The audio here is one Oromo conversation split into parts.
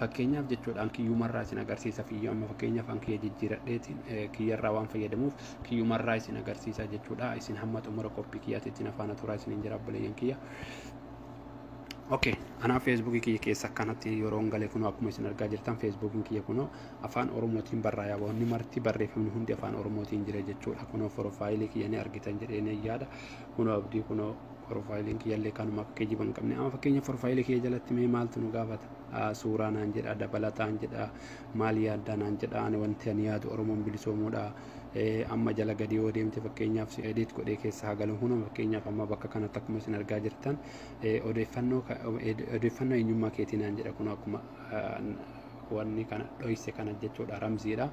Fakkeenyaaf jechuudha an kiyyumarraa isin agarsiisa fiyyu amma fakkeenyaaf an kiyya jijjiiradheetiin kiyyarraa waan fayyadamuuf kiyyumarraa isin agarsiisa jechuudha isin hamma xumura qophii kiyyaatiitti na faana turaa isiniin jira obboleeyyan kiyya. Okay, anaa feesbuukii kiyya keessa akkanatti yeroo galee kunoo akkuma isin argaa jirtan feesbuukiin kiyya kunoo afaan oromootiin barraa'e wanni marti barreeffamni hundi afaan oromootiin jira jechuudha kunoo foroofaayilii kiyya ni argitan jedhee ni yaada kunoo abdii kunoo foroofaayiliin kiyyallee kanuma akka geejjiba hin qabne amma fakkeenya foroofaayilii kiyya jalatti mee maaltu nu gaafata suuraa naan jedha dabalataan jedha maal yaaddaa naan jedha ani wanti ani yaadu oromoon bilisoomuudha amma jala gadi yoo deemte fakkeenyaaf si edit godhee keessa haa galu hunda fakkeenyaaf amma bakka kanatti akkuma isin argaa jirtan odeeffannoo odeeffannoo eenyummaa keetii naan jedha kun akkuma wanni kana dhoyse kana jechuudha ramziidha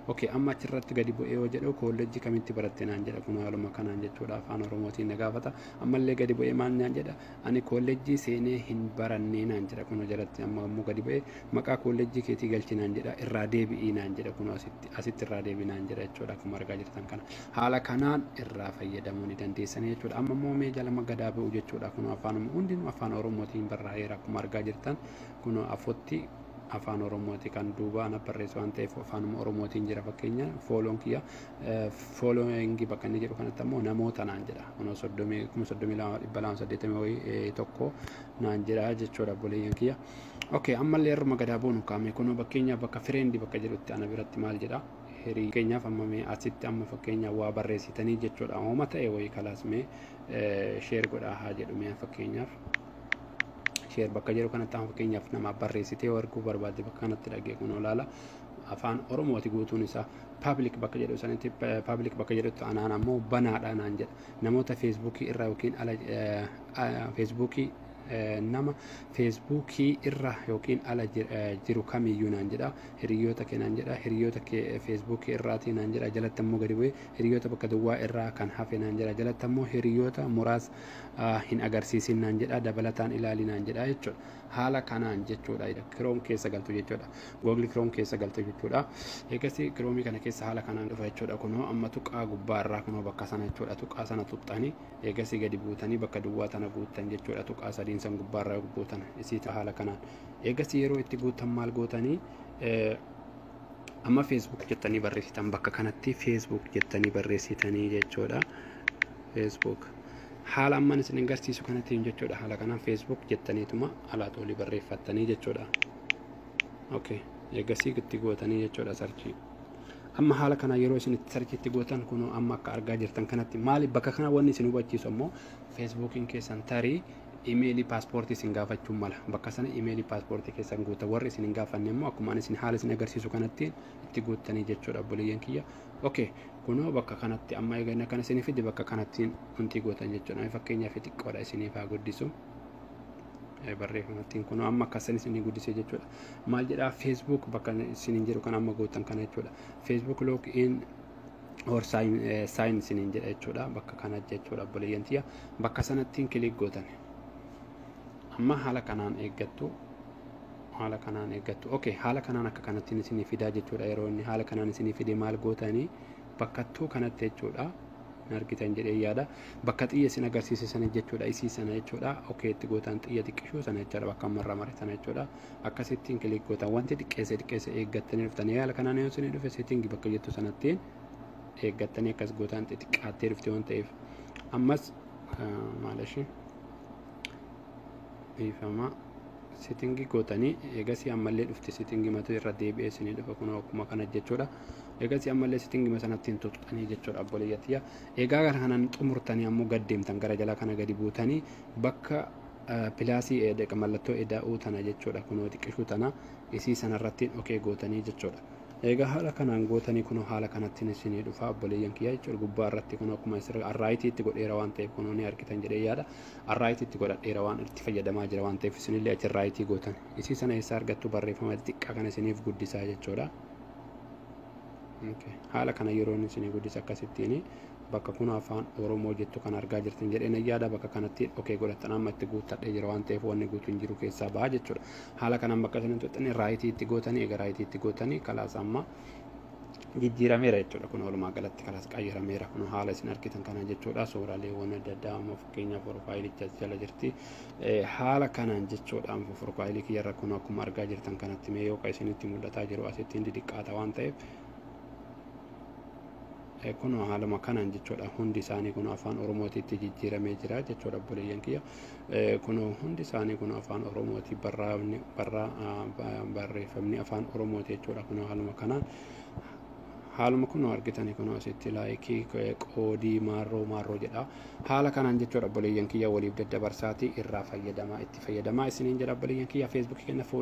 ok amma achirratti gadi bu'ee yoo jedhu koolleejjii kamitti baratte naan jedha kun haaluma kanaan jechuudha afaan oromootiin na gaafata ammallee gadi bu'ee maal naan jedha Ani koollejjii seenee hin barannee naan jedha kunoo jalatti amma ammoo gadi ba'e maqaa koollejjii keetii galchi naan jedha irraa deebi'ii naan jedha kunoo asitti asitti irraa deebi'i naan jedha jechuudha akkuma argaa jirtan kana haala kanaan irraa fayyadamuu ni dandeessanii jechuudha amma immoo mee jalama gadaa ba'u jechuudha kunoo afaanuma hundinuu afaan oromootiin barraa'eera akkuma argaa jirtan kunoo afotti afaan oromooti kan duuba ana barreessu waan ta'eef afaanuma oromootiin jira fakkeenya fooloon kiyya following bakka inni jedhu kanatti ammoo namoota naan jedha kunoo soddomii kuma soddomii lama dhibba lama saddeettamii wayii eh, tokko naan jedha jechuudha obboleeyyan kiyya okay ammallee irruma gadaa boonu kaame kunoo fakkeenyaaf bakka fireendi bakka jedhutti ana biratti maal jedha hirii fakkeenyaaf amma mee asitti amma fakkeenyaaf waa barreessitanii jechuudha hooma ta'e wayii kalaas mee sheer godhaa haa jedhu mee fakkeenyaaf sheer bakka jedhu kanatti amma fakkeenyaaf nama barreessitee yoo arguu barbaadde bakka kanatti dhagee kun olaala afaan oromooti guutuun isaa paablik bakka jedhu sanitti paablik bakka jedhutti anaan ammoo banaadha naan jedha namoota feesbuukii irraa yookiin ala feesbuukii nama feesbuukii irra yookiin ala jiru kamiyyuu naan jedha hiriyoota kee naan jedha hiriyoota kee feesbuukii irraatii naan jedha jalatti ammoo gadi bu'ee hiriyoota bakka duwwaa irraa kan hafe naan jedha jalatti ammoo hiriyoota muraas hin agarsiisin naan jedha dabalataan ilaali naan jedha jechuudha haala kanaan jechuudha kiroom keessa galtu jechuudha googli kiroom keessa galtu jechuudha eegasii kiroomii kana keessa haala kanaan dhufa jechuudha kunoo amma tuqaa gubbaa irraa kunoo bakka sana jechuudha tuqaa sana tuqxanii eegasii gadi buutanii bakka duwwaa tana guuttan jechuudha tuqaa sadiin san gubbaa irraa guutan isii haala kanaan eegasii yeroo itti guuttan maal gootanii amma feesbuuk jettanii barreessitan bakka kanatti feesbuuk jettanii barreessitanii jechuudha feesbuuk Haala amman isinin garsiisu kanatiin jechuudha. Haala kanaan Facebook jettaniituma alaat olii barreeffattanii jechuudha. Okay. Eegasii itti gootanii jechuudha sarchii. Amma haala kanaan yeroo isin itti sarchii itti gootan kunoo amma akka argaa jirtan kanatti maali bakka kana wanni isin hubachiisu ammoo Facebookiin keessan tarii imeelii paaspoortii isin gaafachuu mala. Bakka sana imeelii paaspoortii keessan guuta. Warri isin hin gaafanne immoo akkuma ani isin haala isin agarsiisu kanatti itti guuttanii jechuudha obboleeyyan kiyya. ok kunoo bakka kanatti amma egaa inni akkana isinii fide bakka kanattiin wantii gootan jechuudha Mee fakkeenyaa fi xiqqoodha isiniif haa guddisu Eh, barreeffamattiin kunoo amma akkasan isinii guddisee jechuudha maal jedhaa facebook bakka isiniin jedhu kan amma gootan kana jechuudha facebook log in or sign, eh, sign isiniin jedha jechuudha bakka kana jechuudha obboleeyyan tiyya bakka sanattiin kilik gootan amma haala kanaan eeggattu haala kanaan eeggattu ok haala kanaan akka kanattiin isinii fidaa jechuudha yeroo inni haala kanaan isinii fide maal gootanii bakka tuu kanatti jechuudha hin argitan jedhee yaada bakka xiyya isin agarsiise sana jechuudha isii sana jechuudha ok itti gootaan xiyya xiqqishuu sana jechuudha bakka marra mare sana jechuudha akkasittiin kiliik gootan wanti xiqqeesse xiqqeesse eeggattanii dhuftanii haala kanaan yoo isinii dhufe seetingi bakka jettu sanattiin eeggattanii akkas gootaan xixiqqaattee dhufte waan ta'eef ammas maalashi dhiifama sitingi gootanii eegasii ammallee dhufti sitingi matu irra deebi'ee isinii dhufa kun akkuma kana jechuudha eegasii ammallee sitingi masanatti hin tuqxanii jechuudha obboleeyyatiyya eegaa gara kanan xumurtanii ammoo gad deemtan gara jala kana gadi buutanii bakka pilaasii eedeqa mallattoo eda'uu tana jechuudha kunoo xiqqishuu tana isii sanarrattiin okee gootanii jechuudha Eegaa haala kanaan gootanii kunoo haala kanattiin isinii dhufaa obboleeyyan kiyyaa jechuudha gubbaa irratti kunoo akkuma isirra arraayitii itti godheera waan ta'eef kunoo ni argitan jedhee yaada arraayitii itti godhadheera waan itti fayyadamaa jira waan ta'eef isinillee achi arraayitii gootan isii sana eessaa argattu barreeffama xixiqqaa kana isiniif guddisaa jechuudha. Haala kana yeroon isinii guddisa akkasittiin bakka kun afaan Oromoo jettu kan argaa jirtan jedheen yaada bakka kanatti okee godhattan amma itti guuttadhee jira waan ta'eef wanni guutu hin jiru keessaa ba'a jechuudha. haala kanaan bakka isiniin tuxxanii raayitii itti gootanii egaa raayitii itti gootanii kalaas amma jijjiirameera jechuudha kun walumaa galatti kalaas qayyarameera kun haala isin argitan kana jechuudha suuraaleewwan adda addaa amma fakkeenyaaf profaayilicha as jala jirti haala kanaan jechuudha amma profaayilii kiyyarra kun akkuma argaa jirtan kanatti mee yookaan isinitti mul'ataa jiru asittiin didiqqaata waan ta'eef kun haaluma kanaan jechuudha hundi isaanii kun afaan oromootiitti jijjiiramee jira jechuudha obboleeyyan kiyya Eh, Kunoo hundi isaanii kunoo afaan Oromooti barraafni barraa ah, ba- barreeffamni afaan Oromooti jechuudha. Kunoo haaluma kana haaluma kunoo argitanii kunoo asitti laayikii eh, qoodii maarroo maarroo jedha. Haala kanaan jechuudha obboleeyyan kiyya waliif daddabarsaati irraa fayyadamaa itti fayyadamaa isiniin jedha obboleeyyan kiyya feesbuukii kenna fuula